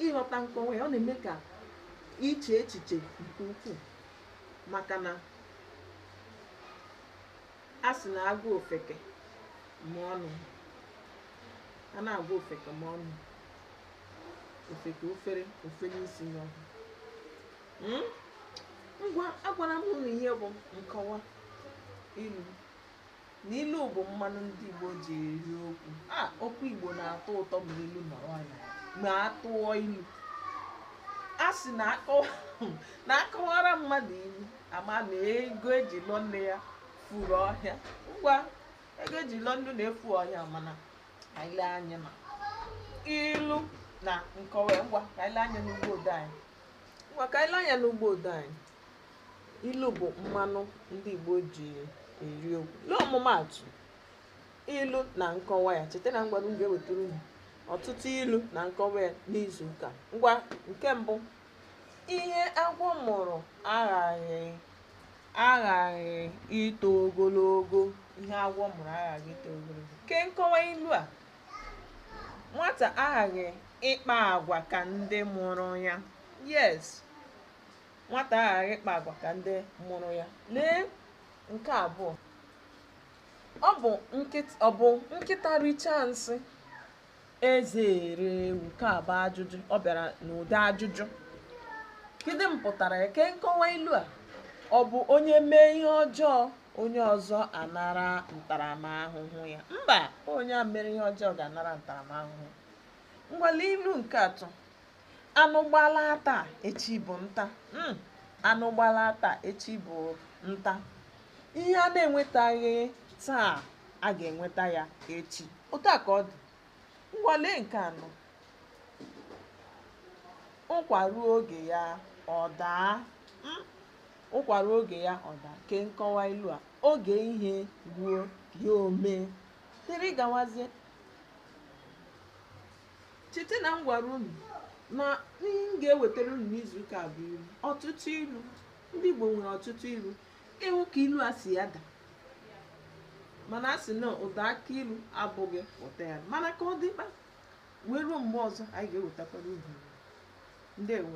ịghọta nkọwa ya ọ na-eme ka i chee echiche nke ukwuu maka na a sị na agwa ofeke ma ọnụ a na-agwa ofeke ma ọnụ ofeke ofere ofere isi n'ọhịa Mm? ngwa agwara m unu ihe bụ nkọwa ilu na ilu bụ mmanụ ndị igbo ji eri okwu a okwu igbo na-atọ ụtọ ma ilu nọrọ na ya ma atụọ ilu a sị na akọwara mmadụ ilu ama na ego eji lụọ nne ya furu ọhịa ngwa ego eji lụọ nne unu na-efu ọhịa mana anyị lee anya na ilu na nkọwa ngwa ka anyị lee anya n'ụgbọ odee anyị ngwa ka anyị lee anya n'ụgbọ odee anyị ilu bụ mmanụ ndị Igbo ji eri okwu lee ọmụmaatụ ilu na nkọwa ya cheta na m gwara unu m ga-ewetara unu ọtụtụ ilu na nkọwa ya n'izu ụka ngwa nke mbụ ihe agwọ mụrụ aghaghị ito ogologo ihe agwọ mụrụ aghaghị ito ogologo kee nkọwa ilu a nwata aghaghị ịkpa agwa ka ndị mụrụ ya yes nwata aghaghị ịkpa agwa ka ndị mụrụ ya lee nke abụọ ọ bụ nkịta richaa nsị eze ere ewu nke a bụ ajụjụ ọ bịara n'ụdị ajụjụ kedu mpụtara ya kee nkọwa ilu a ọ bụ onye mee ihe ọjọọ onye ọzọ anara ntaramahụhụ ya mba onye mere ihe ọjọọ ga-anara ntaramahụhụ ngwa lee ilu nke atọ anụ gbala taa echi bụ nta mm, anụ gbala taa echi bụ nta ihe a na-enwetaghị taa a ga-enweta ya echi otu a ka ọ dị ngwa lee nke anọ ụkwa ruo oge ya ọ daa mm, ụkwa ruo oge ya ọ daa kee nkọwa ilu a oge ihe ruo ya o mee dịrị gawazie cheta na m gwara unu na m ga-ewetara unu n'izu ụka bụ ilu ọtụtụ ilu ndị Igbo nwere ọtụtụ ilu ị nụ ka ilu a si ada mana a sị na ụda akị ilu abụghị ụtọ ya mana ka ọ dịkpa wee ruo mgbe ọzọ anyị ga-ewetakwara unu ndewo